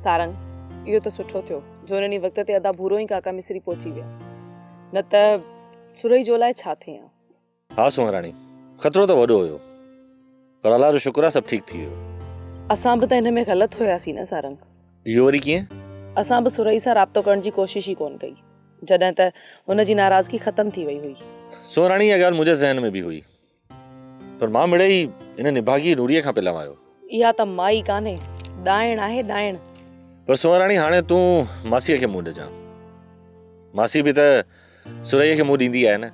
سارنگ، اهو ته سٺو ٿيو جو انهن ئي وقت تي ادا ڀورو ۽ ڪاڪا مصري پهچي ويا، نه ته سرهي جو لاء ڇا ٿئي هان. ها سونهراڻي، خطرو ته وڏو هيو، پر الله جو شڪر آهي سڀ ٺيڪ ٿي ويو. اسان به ته ان ۾ غلط هياسين نه سارنگ؟ اهو وري ڪيئن؟ اسان به سرهي سان رابطو ڪرڻ جي ڪوشش ئي ڪونه ڪئي، جڏهن ته هن جي ناراضگي ختم ٿي وئي هئي. سونهراڻي، اها ڳالهه منهنجي ذهن ۾ به هئي، پر مان مڙئي ان نڀاڳي نوڙيء کان پلئه آيو. اها ته مائي ڪانهي، ڏائڻ آهي، ڏائڻ. پر سونهراڻي هاڻي تون ماسيء کي منهن ڏجان. ماسي به ته سرهيء کي منهن ڏيندي آهي نه.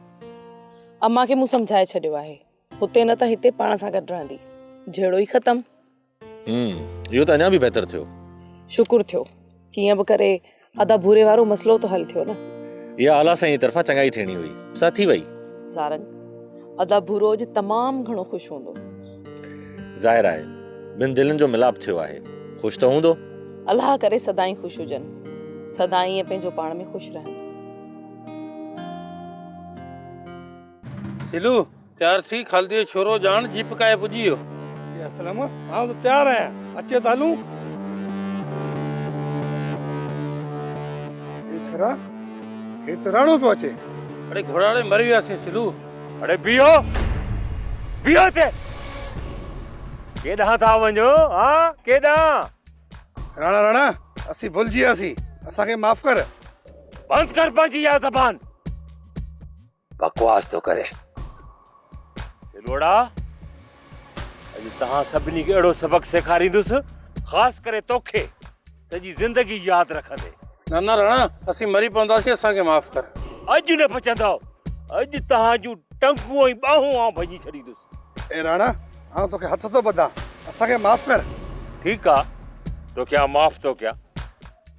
امان کي مون سمجهائي ڇڏيو آهي. هتي نه ته هتي پاڻ سان گڏ رهندي. جهيڙو ئي ختم. ھمم اھو ته اڃا به بهتر ٿيو. شڪر ٿيو ڪيئن به ڪري ادا ڀوري وارو مسئلو ته حل ٿيو نه. اها اعليٰ سائين جي طرفان چڱائي ٿيڻي هئي سا ٿي وئي. سارنگ، ادا ڀورو اڄ تمام گهڻو خوش هوندو. ظاهر آهي ٻن دلين جو ملاپ ٿيو آهي خوش ته هوندو. الله ڪري سدائين خوش هجن. سدا ائين پنهنجو پاڻ ۾ خوش رهن. سلو تيار ٿي خالديء شورو ڄاڻ جيپ ڪاهي پڄي ويو. يا اسلم آئون ته تيار آهيان اچ ته هلون. اي ڇورا هي ته راڻو پيو اچي. اڙي گهوڙاڙي مري وياسين سلو. اڙي بيهو بيهو هتي ڪيڏانهن ٿا وڃو ها ڪيڏانهن. راڻا راڻا اسين ڀلجي وياسين اسان کي معاف ڪر. بند ڪر پنهنجي اها زبان. بڪواس ٿو ڪرين. سلوڙا اڄ توهان سڀني کي اهڙو سبق سيکاريندس خاص ڪري توکي سڄي زندگي ياد رکندي. نه نه رڻا اسين مري پونداسين اسان کي معاف ڪر. اڄ نه بچندؤ اڄ توهان جون ٽنگون ۽ ٻانهون آئون ڀڃي ڇڏيندس. اي رڻا آئون توکي هٿ ٿو ٻڌان اسان کي معاف ڪر. ٺيڪ آ توکي آئون معاف ٿو ڪيان.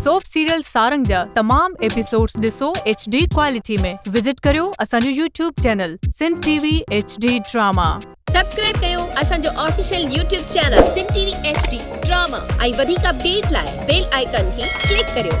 سوپ سيريل سارنگ جا تمام ايپيسوڊز ڏسو ايڇ ڊي ڪوالٽي ۾ وزٽ ڪريو اسان جو YouTube channel Sindh T V H D drama. Subscribe ڪيو اسان جو official YouTube channel Sindh T V H D drama ۽ وڌيڪ اپڊيٽ لاء بيل آئيڪان کي ڪلڪ ڪريو.